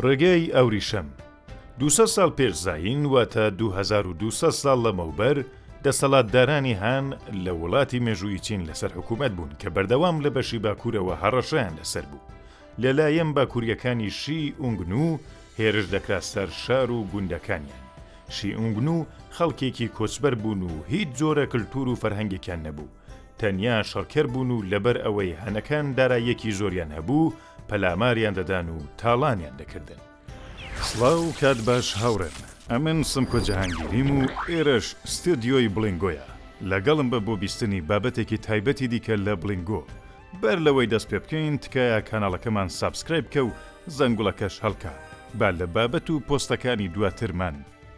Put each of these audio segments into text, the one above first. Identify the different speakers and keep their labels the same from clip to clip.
Speaker 1: ڕێگەی ئەوریشم، دوو سەد ساڵ پێش زایین واتە دوو هەزار و دوو سەد ساڵ لەمەوبەر، دەسەڵاتدارانی هان لە وڵاتی مێژوویی چین لەسەر حکوومەت بوون کە بەردەوام لە بەشی باکوورەوە هەڕەشەیان لەسەر بوو. لەلایەن باکوورییەکانی شی ئونگنو هێرش دەکرا سەر شار و گوندەکانیان. شی ئونگنو خەڵکێکی کۆچبەر بوون و هیچ جۆرە کلتوور و فەرهەنگێکیان نەبوو. تەنیا شەڕکەر بوون و لەبەر ئەوەی هانەکان داراییەکی زۆریان هەبوو پەلاماریان دەدان و تاڵانیان دەکردن. سڵاو کات باش هاوڕێم ئەمن سمکۆ جەهانگیریم و ئێرەش ستۆدیۆی بڵینگۆیە لەگەڵم بە بۆ بیستنی بابەتێکی تایبەتی دیکە لە بڵینگۆ بەر لەوەی دەست پێ بکەین تکایە کاناڵەکەمان سابسکرایب بکە و زەنگوڵەکەش هەڵکە با لە بابەت و پۆستەکانی دواترمان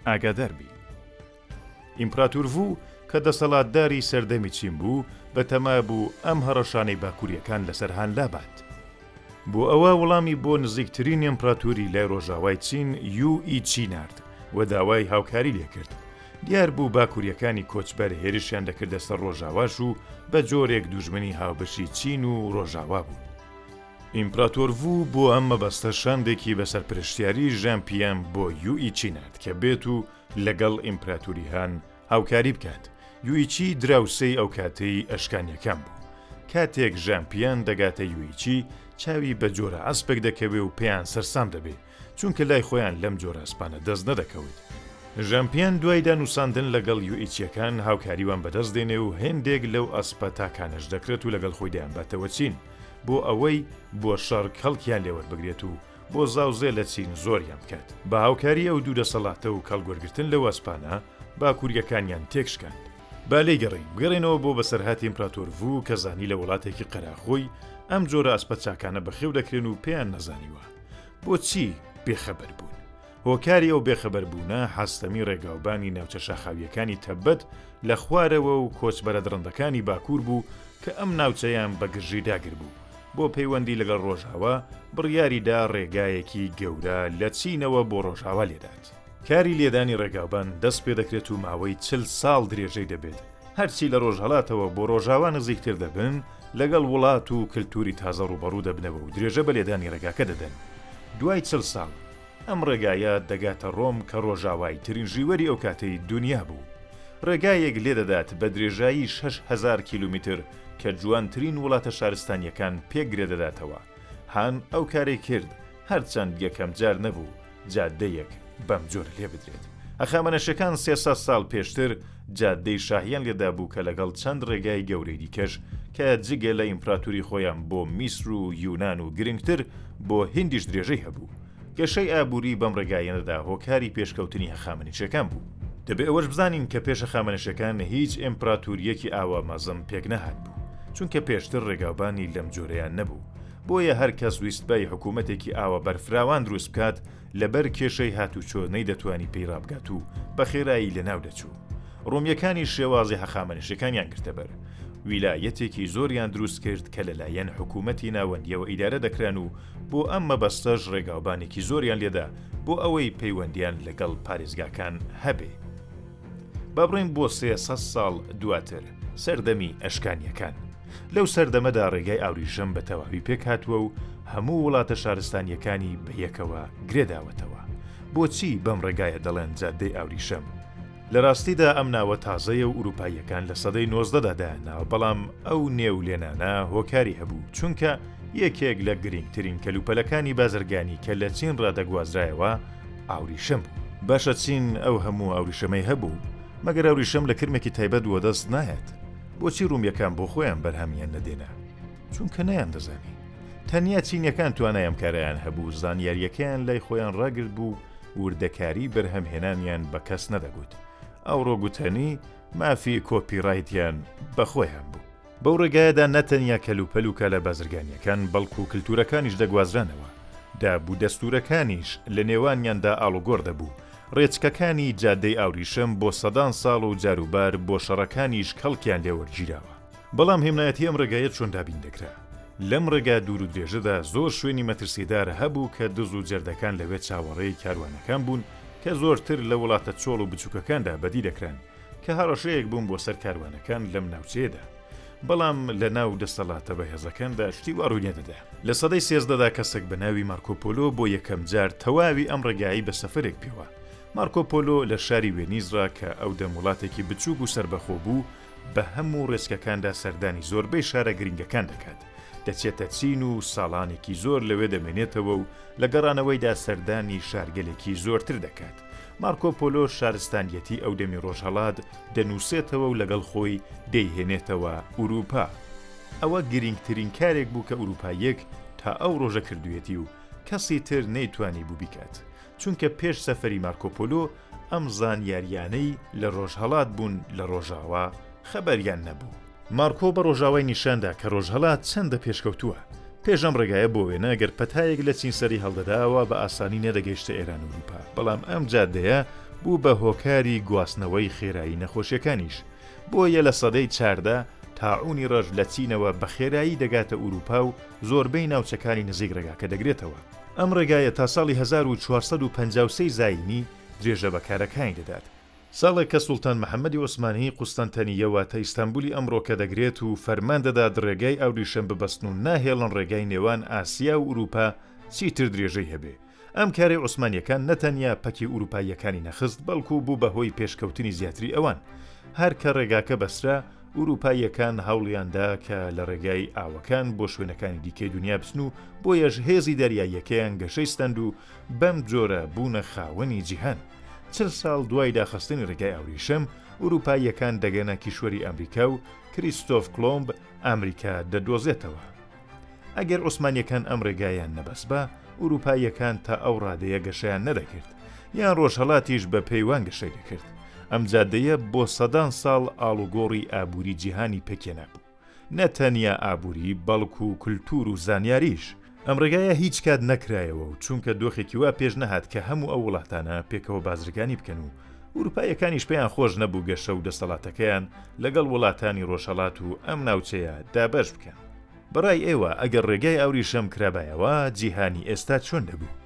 Speaker 1: ئاگادار بی. ئیمپراتور ڤوو کە دەسەڵاتداری سەردەمی چین بوو، بەتەما بوو ئەم هەڕەشانەی باکوورییەکان لەسەر هان لابات. بۆ ئەوە وەڵامی بۆ نزیکترین ئیمپراتوری لای ڕۆژاوای چین، یو ئی چی نارد و داوای هاوکاری لێ کرد. دیار بوو باکوورییەکانی کۆچبەر هێرشیان دەکردە سەر ڕۆژاواش و بە جۆرێک دوژمنی هاوبەشی چین و ڕۆژاوا بوون. ئیمپراتۆر ڤوو بۆ ئەم مەبەستە شاندێکی بە سەرپرشتیاری ژان پیان بۆ یو ئی چی نارد کە بێت و، لەگەڵ ئیمپراتوری هان هاوکاری بکات، یوئیچی دراوسێی ئەوکاتەی ئەشکانیەکان بوو. کاتێک ژانپیان دەگاتە یوئیچی چاوی بە جۆرە ئەسپێک دەکەوێ و پێیان سەرسام دەبێ، چونکە لای خۆیان لەم جۆرە ئەسپانە دەست نەدەکەوت. ژانپیان دوای دانوساندن لەگەڵ یوئیچیەکان هاوکاری وان بەدەست دێنێ و هێندێک لەو ئەسپە تاکانەش دەکڕێت و لەگەڵ خۆی دەیانباتەوە چین بۆ ئەوەی بۆ شەڕ کەڵکیان لێ وەربگرێت و بۆ زاوزێ لە چین زۆریان بکات. بە هاوکاری ئەو دوو دەسەڵاتە و کەڵکوەرگرتن لەو ئەسپانە باکوورییەکانیان تێکشکاند. با لێیگەڕێین، بگەڕێینەوە بۆ بەسەرهاتی ئیمپراتۆر ڤو کە زانی لە وڵاتێکی قەراخۆی ئەم جۆرە ئەسپە چاکانە بەخێو دەکرێن و پێیان نەزانیوە. بۆچی بێخەبەر بوون؟ هۆکاری ئەو بێخەبەربوونە هەستەمی ڕێگاوبانی ناوچە شاخاوییەکانی تەبەت لە خوارەوە و کۆچبەرە دڕندەکانی باکوور بوو کە ئەم ناوچەیان بە گرژی داگربوو. بۆ پەیوەندی لەگەڵ ڕۆژاوا بڕیاریدا ڕێگایەکی گەورە لە چینەوە بۆ ڕۆژاوا لێدات. کاری لێدانی ڕێگاوبان دەست پێدەکرێت و ماوەی چل ساڵ درێژەی دەبێت، هەرچی لە ڕۆژهەڵاتەوە بۆ ڕۆژاوا نزیکتر دەبن لەگەڵ وڵات و کلتوری تازە ڕوبەڕوو دەبنەوە و درێژە بە لێدانی ڕێگاکە دەدەن دوای چل ساڵ ئەم ڕێگایە دەگاتە ڕۆم کە ڕۆژاوای ترین ژیوەری ئەو کاتەی دونیا بوو ڕێگایەک لێدەدات بە درێژایی شەش هەزار کیلومیتر کە جوانترین وڵاتە شارستانیەکان پێ گرێ دەداتەوە هان ئەو کارەی کرد هەرچەند یەکەم جار نەبوو جادەیەک بەم جۆرە لێ بدرێت هەخامەنەشەکان سێ سەد ساڵ پێشتر جادەی شاهیان لێدابوو کە لەگەڵ چەند ڕێگای گەورەی دیکەش کە جگە لە ئیمپراتوری خۆیان بۆ میسر و یونان و گرنگتر بۆ هندیش درێژەی هەبوو گەشەی ئابووری بەم ڕێگایەنەدا هۆکاری پێشکەوتنی هەخامەنشیەکان بوو. دەبێ ئەوەش بزانین کە پێش هەخامەنشەکان هیچ ئێمپراتوریەکی ئاوا مەزن پێک نەهاتبوو، چونکە پێشتر ڕێگاوبانی لەم جۆرەیان نەبوو، بۆیە هەر کەس ویستبای حکوومەتێکی ئاوا بەرفراوان دروست بکات لەبەر کێشەی هاتوچۆ نەیدەتوانی پێی ڕابگات و بە خێرایی لەناو دەچوو. ڕۆمیەکانیش شێوازی هەخامەنشیەکانیان گرتە بەر. ویلایەتێکی زۆریان دروست کرد کە لەلایەن حکوومەتی ناوەندیەوە ئیدارە دەکران و بۆ ئەم مەبەستەش ڕێگاوبانێکی زۆریان لێدا بۆ ئەوەی پەیوەندیان لەگەڵ پارێزگاکان هەبێ. با بڕۆین بۆ سێ سەد ساڵ دواتر، سەردەمی ئەشکانییەکان. لەو سەردەمەدا ڕێگای ئاوریشم بە تەواوی پێکهاتووە و هەموو وڵاتە شارستانییەکانی بە یەکەوە گرێداوەتەوە. بۆچی بەم ڕێگایە دەڵێن جادەی ئاوریشم؟ لە راستیدا ئەم ناوە تازەیە و ئورووپاییەکان لە سەدەی نۆزدەدا دایان ناوە بەڵام ئەو نێو لێنانە هۆکاری هەبوو چونکە یەکێک لە گرینگترین کەلوپەلەکانی بازرگانی کە لە چین را دەگوازرایەوە ئاوریشم بوو. باشە چین ئەو هەموو ئاوریشەمەی هەبوو مەگەر ئاوریشەم لە کرمێکی تایبەت وەدەست نایەت؟ بۆچی روومیەکان بۆ خۆیان بەرهەمیان نەدێنا؟ چونکە نەیاندەزانی. تەنیا چینەکان توانای ئەم کارەیان هەبوو، زانیارییەکەیان لای خۆیان ڕاگرت بوو، وردەکاری بەرهەمهێنانیان بە کەس نەدەگوت. ئەوڕۆ گوتەنی، مافی کۆپیڕایتیان بە خۆیان بوو. بەو ڕێگایەدا نە تەنیا کەلوپەل و کالا بازرگانییەکان، بەڵکوو کلتوورەکانیش دەگوازرانەوە. دابودەستوورەکانیش لە نێوانیاندا ئاڵوگۆڕ دەبوو. ڕێچکەکانی جادەی ئاوریشم بۆ سەدان ساڵ و جاروبار بۆ شەڕەکانیش کەڵکیان لێ وەرگیراوە. بەڵام هێمنایەتی ئەم ڕێگایە چۆن دابین دەکرا؟ لەم ڕێگا دوور و درێژەدا زۆر شوێنی مەترسیدار هەبوو کە دز و جەردەکان لەوێ چاوەڕێی کاروانەکان بوون کە زۆرتر لە وڵاتە چۆڵ و بچووکەکاندا بەدی دەکران کە هەڕەشەیەک بوون بۆ سەر کاروانەکان لەم ناوچەیەدا. بەڵام لە ناو دەستەڵاتە بەهێزەکاندا شتی وا ڕووی نەدەدا. لە سەدەی سێزدەدا کەسێک بە ناوی مارکۆپۆلۆ بۆ یەکەم جار تەواوی ئەم ڕێگایەی بە سەفەرێک پێوا. مارکۆپۆلۆ لە شاری وێنیز ڕا کە ئەو دەم وڵاتێکی بچووک و سەربەخۆ بوو بە هەموو ڕێچکەکاندا سەردانی زۆربەی شارە گرنگەکان دەکات، دەچێتە چین و ساڵانێکی زۆر لەوێ دەمێنێتەوە و لە گەڕانەوەیدا سەردانی شارگەلێکی زۆرتر دەکات. مارکۆ پۆلۆ شارستانییەتی ئەو دەمی ڕۆژهەڵات دەنووسێتەوە و لەگەڵ خۆی دەیهێنێتەوە ئورووپا. ئەوە گرنگترین کارێک بوو کە ئورووپاییەک تا ئەو ڕۆژە کردوویەتی و کەسی تر نەیتوانیبوو بیکات. چونکە پێش سەفەری مارکۆپۆلۆ ئەم زانیارییانەی لە ڕۆژهەڵات بوون لە ڕۆژاوا خەبەریان نەبوو. مارکۆ بە ڕۆژاوای نیشاندا کە ڕۆژهەڵات چەندە پێشکەوتووە. پێش ئەم ڕێگایە بۆ وێنە گەر پەتایەک لە چین سەری هەڵدەدا ئەوا بە ئاسانی نەدەگەیشتە ئێران و ئورووپا، بەڵام ئەم جادەیە بوو بە هۆکاری گواستنەوەی خێرایی نەخۆشییەکانیش. بۆیە لە سەدەی چاردە تاعوونی ڕەش لە چینەوە بە خێرایی دەگاتە ئورووپا و زۆربەی ناوچەکانی نزیک ڕێگاکە دەگرێتەوە. ئەم ڕێگایە تا ساڵی هەزار و چوار سەد و پەنجا و سێ زایینی درێژە بە کارەکانی دەدات، ساڵێک کە سوڵتان محەمەدی عوسمانی قوستەنتەنییە واتە ئیستانبولی ئەمڕۆکە دەگرێت و فەرمان دەدات ڕێگای ئاوریشم ببەستن و ناهێڵن ڕێگای نێوان ئاسیا و ئورووپا چیتر درێژەی هەبێ. ئەم کارەی عوسمانییەکان نەتەنیا پەکی ئورووپاییەکانی نەخست بەڵکوو بوو بە هۆی پێشکەوتنی زیاتری ئەوان. هەر کە ڕێگاکە بەسترا، ئورووپاییەکان هەوڵیان دا کە لە ڕێگای ئاوەکان بۆ شوێنەکانی دیکەی دونیا بچن و بۆیەش هێزی دەریاییەکەیان گەشەی ستەند و بەم جۆرە بوونە خاوەنی جیهان. چل ساڵ دوای داخستنی ڕێگای ئاوریشم، ئورووپاییەکان دەگەنە کیشوەری ئەمریکا و کریستۆف کڵۆمب ئەمریکا دەدۆزێتەوە. ئەگەر عوسمانیەکان ئەم ڕێگایان نەبەسبا ئوروپاییەکان تا ئەو ڕادەیە گەشەیان نەدەکرد یان ڕۆژهەڵاتیش بە پێیوان گەشەی دەکرد ئەم جادەیە بۆ سەدان ساڵ ئاڵوگۆڕی ئابووری جیهانی پێکێنا بوو نە تەنیا ئابووری بەڵک و کللتور و زانیاریش ئەم ڕێگایە هیچ کات نەکرایەوە و چونکە دۆخێکی وا پێش نەهات کە هەموو ئەو وڵاتانە پێکەوە بازرگانی بکەن و ئوروپاییەکانیش پێیان خۆش نەبوو گەشە و دەسەڵاتەکەیان لەگەڵ وڵاتانی ڕۆژهەڵات و ئەم ناوچەیە دابەش بکەن. بە ڕای ئێوە ئەگەر ڕێگای ئاوریشەم کرابایەوە جیهانی ئێستا چۆن دەبوو؟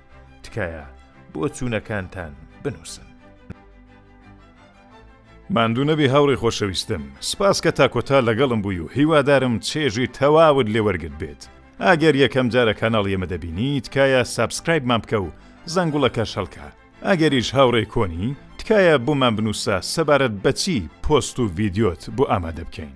Speaker 1: تکایە بۆچوونەکانتان بنووسن. ماندوو نەبی هاوڕێی خۆشەویستم، سپاس کە تا کۆتا لەگەڵم بووی و هیوادارم چێژی تەواوت لێ وەرگرت بێت. ئەگەر یەکەم جارە کاناڵی ئێمە دەبینی تکایە سابسکرایبمان بکە و زەنگوڵەکەش هەڵکە. ئەگەریش هاوڕێی کۆنی، تکایە بۆمان بنووسە سەبارەت بەچی پۆست و ڤیدیۆت بۆ ئامادە بکەین.